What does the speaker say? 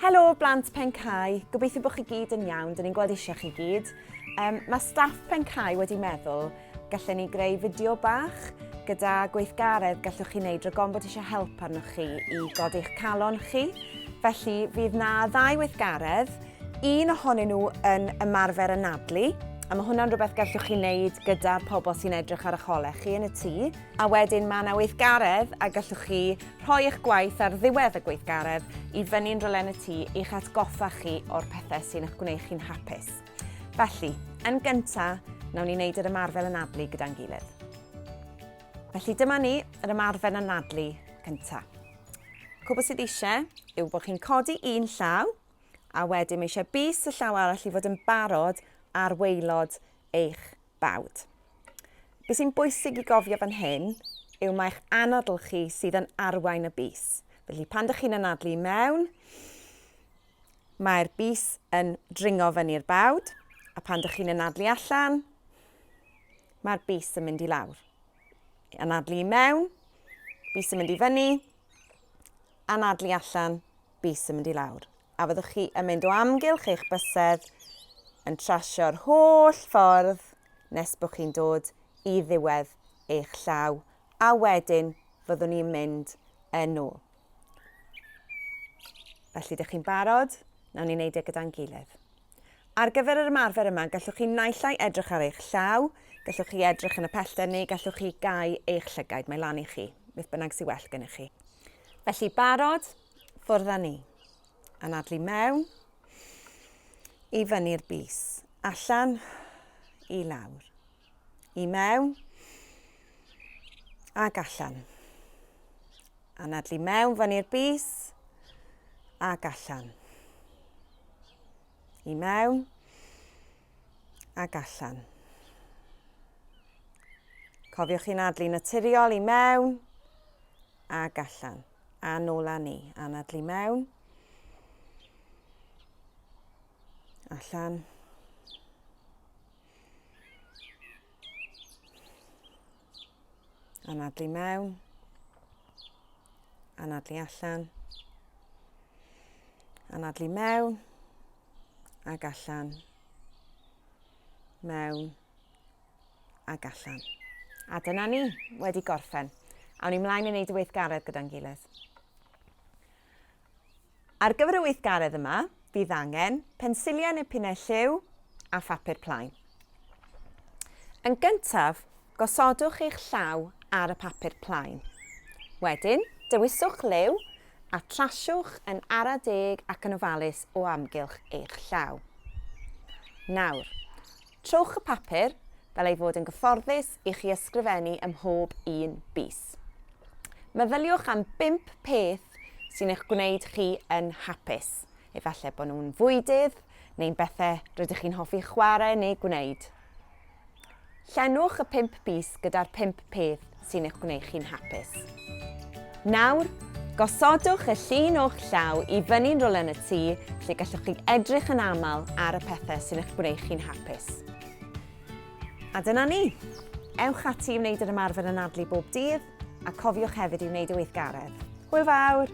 Helo, blant Pencau. Gobeithio bod chi gyd yn iawn. Dyn ni'n gweld eisiau chi gyd. Um, mae staff Pencau wedi meddwl gallen ni greu fideo bach gyda gweithgaredd gallwch chi wneud rhag bod eisiau help arnoch chi i godi'ch calon chi. Felly, fydd na ddau weithgaredd, un ohonyn nhw yn ymarfer anadlu, a mae hwnna'n rhywbeth gallwch chi wneud gyda'r pobl sy'n edrych ar eich holau chi yn y tŷ, A wedyn mae 'na weithgaredd a gallwch chi rhoi eich gwaith ar ddiwedd y gweithgaredd i fyny'n rylen y tŷ i'ch atgoffa chi o'r pethau sy'n eich gwneud chi'n hapus. Felly, yn gyntaf, nawn ni wneud yr ymarfer anadlu gyda'n gilydd. Felly dyma ni, yr ymarfer anadlu cyntaf. Cwbl sydd eisiau yw bod chi'n codi un llaw a wedyn mae eisiau bus y llaw arall i fod yn barod ar weilod eich bawd. Be sy'n bwysig i gofio fan hyn yw mae'ch anadl chi sydd yn arwain y bus. Felly pan dych chi'n anadlu mewn, mae'r bus yn dringo fyny'r bawd, a pan dych chi'n anadlu allan, mae'r bus yn mynd i lawr. Anadlu mewn, bus yn mynd i fyny, anadlu allan, bys yn mynd i lawr. A fyddwch chi yn mynd o amgylch eich bysedd yn trasio'r holl ffordd nes bod chi'n dod i ddiwedd eich llaw a wedyn fyddwn ni'n mynd yn ôl. Felly, ydych chi'n barod? Nawn ni wneud e gyda'n gilydd. Ar gyfer yr ymarfer yma, gallwch chi naill ai edrych ar eich llaw, gallwch chi edrych yn y pellter neu gallwch chi gau eich llygaid, mae lan i chi, beth bynnag sy'n well gennych chi. Felly barod, ffwrdd â ni. Anadlu mewn, i fyny'r bus, allan, i lawr. i mewn ac allan. Anadlu mewn fan i'r bus ac allan. I mewn ac allan. Cofiwch chi'n adlu naturiol i mewn ac allan. A nôl â ni. Anadlu mewn. Allan. Anadlu mewn. Anadlu allan. Anadlu mewn. Ag allan. Mewn. Ag allan. A dyna ni, wedi gorffen. Awn ni mlaen i wneud y weithgaredd gyda'n gilydd. Ar gyfer y weithgaredd yma, bydd angen pensilliau neu pinnau lliw a phapur plaen. Yn gyntaf, gosodwch eich llaw ar y papur plaen. Wedyn, dewiswch liw a trasiwch yn ara deg ac yn ofalus o amgylch eich llaw. Nawr, Trowch y papur fel ei fod yn gyfforddus i chi ysgrifennu ym mhob un bys. Meddyliwch am bump peth sy'n eich gwneud chi yn hapus. Efallai bod nhw'n fwydydd neu'n bethau rydych chi'n hoffi chwarae neu gwneud. Llenwch y pump bys gyda'r pump peth sy'n eich gwneud chi'n hapus. Nawr, gosodwch y llun o'ch llaw i fyny'n rwla yn y tŷ lle gallwch chi edrych yn aml ar y pethau sy'n eich gwneud chi'n hapus. A dyna ni! Ewch ati i wneud yr ymarfer anadlu bob dydd a cofiwch hefyd i wneud y weithgaredd. Hwyl fawr!